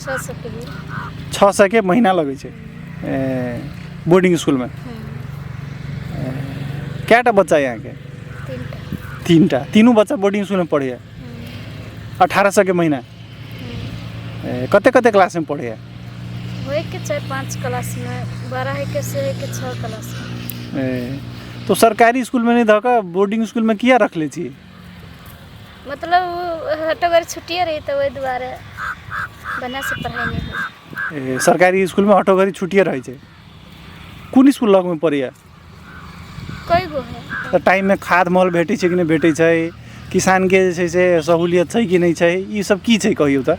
छओ सए के भेल छओ सए के महीना लगै छै ए, बोर्डिंग स्कूल में कए टा बच्चा यहाँ के तीन टा तीन टा तीनू बच्चा बोर्डिंग स्कूल में पढ़ैया अठारह सए के महीना ए, कते कते क्लास में पढ़ैया होए के चाहे पाँच क्लास में बड़ा है के से है के छः क्लास में ए, तो सरकारी स्कूल में नहीं धऽ कऽ बोर्डिंग स्कूल में किया रखले छी मतलब हटो घर छुट्टिए रही तऽ ओहि दुआरे बढ़िआँसँ पढ़ाइ नहि होइ ए, सरकारी स्कूलमे हटो घड़ी छुट्टिए रहै छै कोन स्कूल लगमे पड़ैए कई गो है तऽ टाइममे खाद मल भेटै छै कि नहि भेटै छै किसानके जे छै से सहूलियत छै कि नहि छै ई सब की छै कहियौ तऽ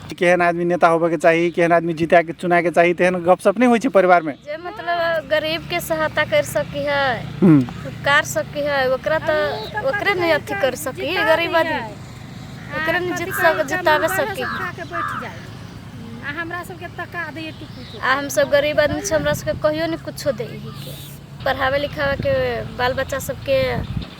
केहन आदमी नेता होबयके चाही केहन आदमी जीतयके चुनयके चाही तेहन गपशप नहि होइ छै परिवारमे जे मतलब गरीबके सहायता करि सकी है हूँ उपकार सकी है ओकरा तऽ ओकरे ने अथी करि सकी है गरीब आदमी ओकरे ने जीत सक जिताबे सकी है के बैठ जाइ आ हमरा सबके तका दैए टुकु आ हमसब गरीब आदमी छी हमरा सबके कहियो नहि कुछो दै हिके पढ़ाबे लिखाबे के बाल बच्चा सबके